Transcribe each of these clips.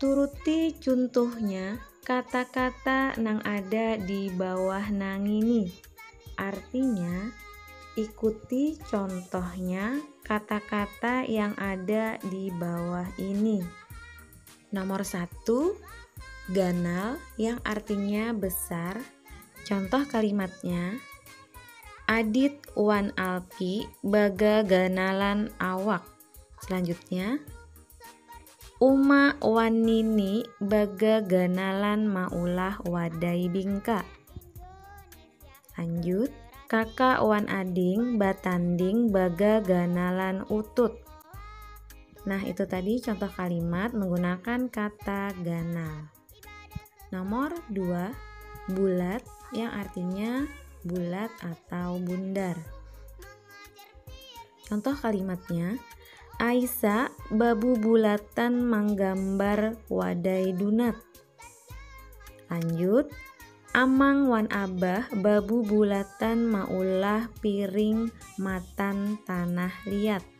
Turuti cuntuhnya kata-kata nang ada di bawah nangini. Artinya, ikuti contohnya kata-kata yang ada di bawah ini. Nomor satu, ganal yang artinya besar. Contoh kalimatnya, Adit wan Alpi bagaganalan awak. Selanjutnya, Uma wan Nini bagaganalan maulah wadai bingka. Lanjut, kakak wan ading batanding bagaganalan utut. Nah, itu tadi contoh kalimat menggunakan kata ganal. Nomor dua, bulat yang artinya bulat atau bundar. Contoh kalimatnya, Aisa babu bulatan manggambar wadai dunat. Lanjut, Amang wan Abah babu bulatan maulah piring matan tanah liat.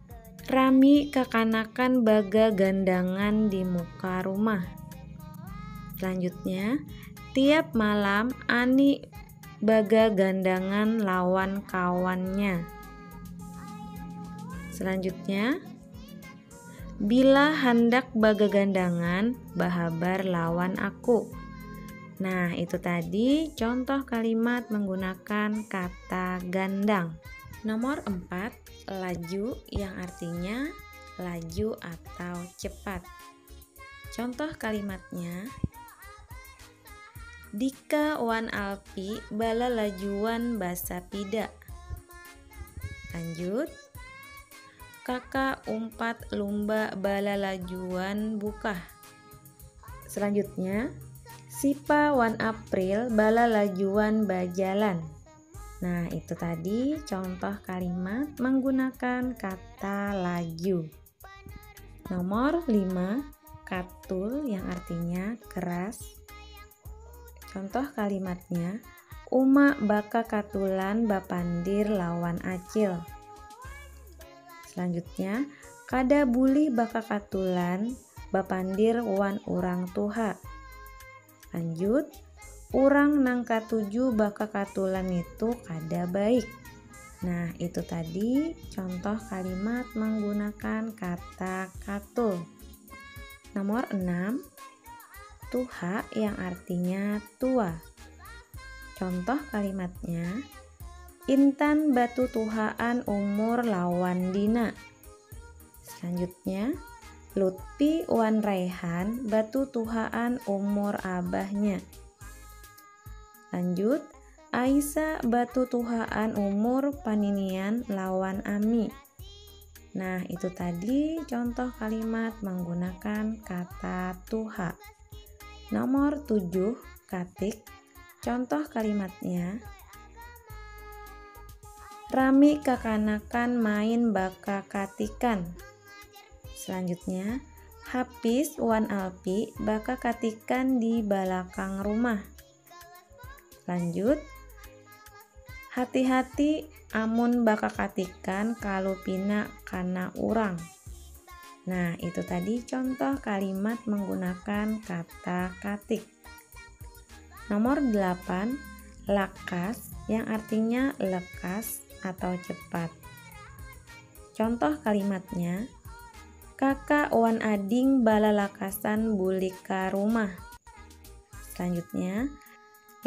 Rami kakanakan bagagandangan di muka rumah. Selanjutnya, tiap malam Ani bagagandangan lawan kawannya. Selanjutnya, bila handak bagagandangan bahabar lawan aku. Nah, itu tadi contoh kalimat menggunakan kata gandang. Nomor 4, Laju yang artinya laju atau cepat. Contoh kalimatnya Dika wan Alpi bala lajuan basa pida. Lanjut. Kakak umpat lumba bala lajuan bukah. Selanjutnya, Sipa wan April bala lajuan bajalan. Nah, itu tadi contoh kalimat menggunakan kata lagyu. Nomor 5, katul yang artinya keras. Contoh kalimatnya, Uma baka katulan bapandir lawan acil. Selanjutnya, kada bulih baka katulan bapandir wan urang tuha. Lanjut, orang nang katuju bakakatulan itu kada baik. Nah, itu tadi contoh kalimat menggunakan kata katul. Nomor 6, tuha yang artinya tua. Contoh kalimatnya, Intan batu tuhaan umur lawan Dina. Selanjutnya, Lutfi wan Raihan batutuhaan umur abahnya. Lanjut, Aisa batutuhaan umur paninian lawan Ami. Nah, itu tadi contoh kalimat menggunakan kata tuha. Nomor 7, katik Contoh kalimatnya Rami kakanakan main baka katikan. Selanjutnya, Hapis wan Alpi baka katikan di balakang rumah. Lanjut, hati-hati amun baka katikan kalu pina kana urang. Nah, itu tadi contoh kalimat menggunakan kata katik. Nomor 8, lakas yang artinya lekas atau cepat. Contoh kalimatnya, kakak wan ading balalakasan bulik ka rumah. Selanjutnya,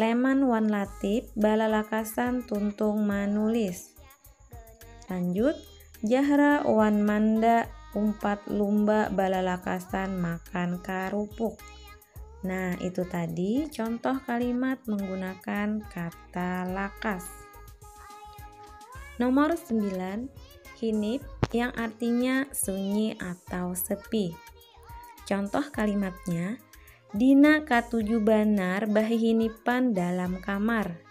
Leman wan Latif balalakasan tuntung manulis. Lanjut, Jahra wan Manda umpat lumba balalakasan makan karupuk. Nah, itu tadi contoh kalimat menggunakan kata lakas. Nomor 9, hinip yang artinya sunyi atau sepi. Contoh kalimatnya, Dina katuju banar bahihinipan dalam kamar.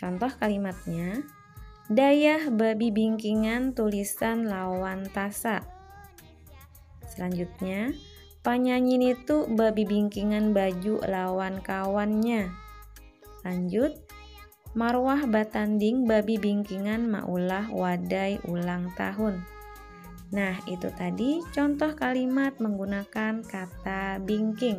Contoh kalimatnya, Dayah babibingkingan tulisan lawan tasa. Selanjutnya, panyanyi nitu babibingkingan baju lawan kawannya. Lanjut, Marwah batanding babibingkingan maulah wadai ulang tahun. Nah, itu tadi contoh kalimat menggunakan kata bingking.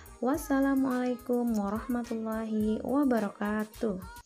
Wassalamualaikum warahmatullahi wabarakatuh.